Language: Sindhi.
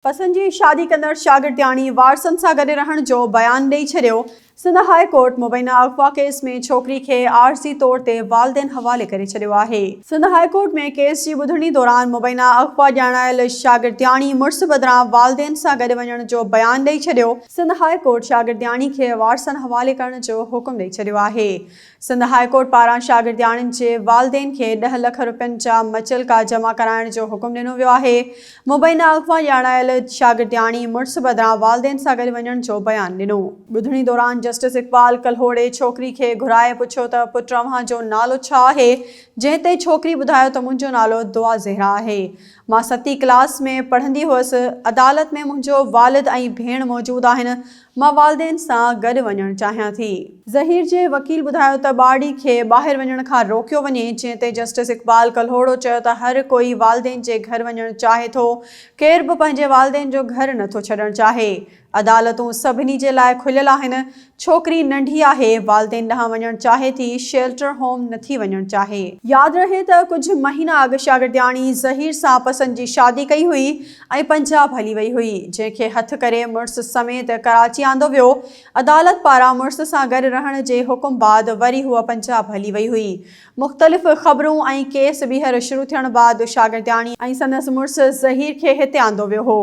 پسند جي شادي ڪندڙ شاگردياڻي وارثن سان گڏ رهڻ جو بيان ڏئي ڇڏيو، سنڌ هاء ڪورٽ مبينا اغوا ڪيس ۾ ڇوڪري کي عارضي طور تي والدين حوالي ڪري ڇڏيو آهي. سنڌ هاء ڪورٽ ۾ ڪيس جي ٻڌڻي دوران مبينا اغوا ڄاڻايل شاگردياڻي مڙس بدران والدين سان گڏ وڃڻ جو بيان ڏئي ڇڏيو، سنڌ هاء ڪورٽ شاگردياڻي کي وارثن حوالي ڪرڻ جو حڪم ڏئي ڇڏيو آهي، سنڌ هاء ڪورٽ پاران شاگردياڻين جي والدين کي ڏهه لک رپين جا مچلڪا جمع ڪرائڻ جو حڪم ڏنو ويو آهي. مبينا اغوا ڄاڻايل شاگردياڻي مڙس بدران والدين سان گڏ وڃڻ جو بيان ڏنو. ٻڌڻي دوران جسٽس اقبال ڪلهوڙي ڇوڪري کي گهرائي پڇيو ته پٽ اوهان جو نالو ڇا آهي؟ جنهن تي ڇوڪري ٻڌايو ته منهنجو نالو دعا زهرا آهي. مان ستين ڪلاس ۾ پڙهندي هئس. عدالت ۾ منهنجو والد ۽ ڀيڻ موجود آهن. مان والدين سان گڏ وڃڻ چاهيان ٿي. ظهير جي وڪيل ٻڌايو ته ٻارڙي کي ٻاهر وڃڻ کان روڪيو وڃي، جنهن تي جسٽس اقبال ڪلهوڙو چيو ته هر ڪوئي والدين جي گهر وڃڻ چاهي ٿو، ڪير به پنهنجي والدين جو گهر نٿو ڇڏڻ چاهي، عدالتون سڀني جي لاء کليل آهن، ڇوڪري ننڍي آهي، والدين ڏانهن وڃڻ چاهي ٿي، شيلٽر هوم نٿي وڃڻ چاهي. ياد رهي ته ڪجهه مهينا اڳ شاگردياڻي ظهير سان پسند جي شادي ڪئي هئي، ۽ پنجاب هلي وئي هئي، جنهن کي هٿ ڪري مڙس سميت ڪراچي آندو ويو. عدالت پاران مڙس سان گڏ رهڻ جي حڪم بعد وري هوء پنجاب هلي وئي هئي. مختلف خبرون ۽ ڪيس ٻيهر شروع ٿيڻ بعد شاگردياڻي ۽ سندس مڙس ظهير کي هتي آندو ويو هو.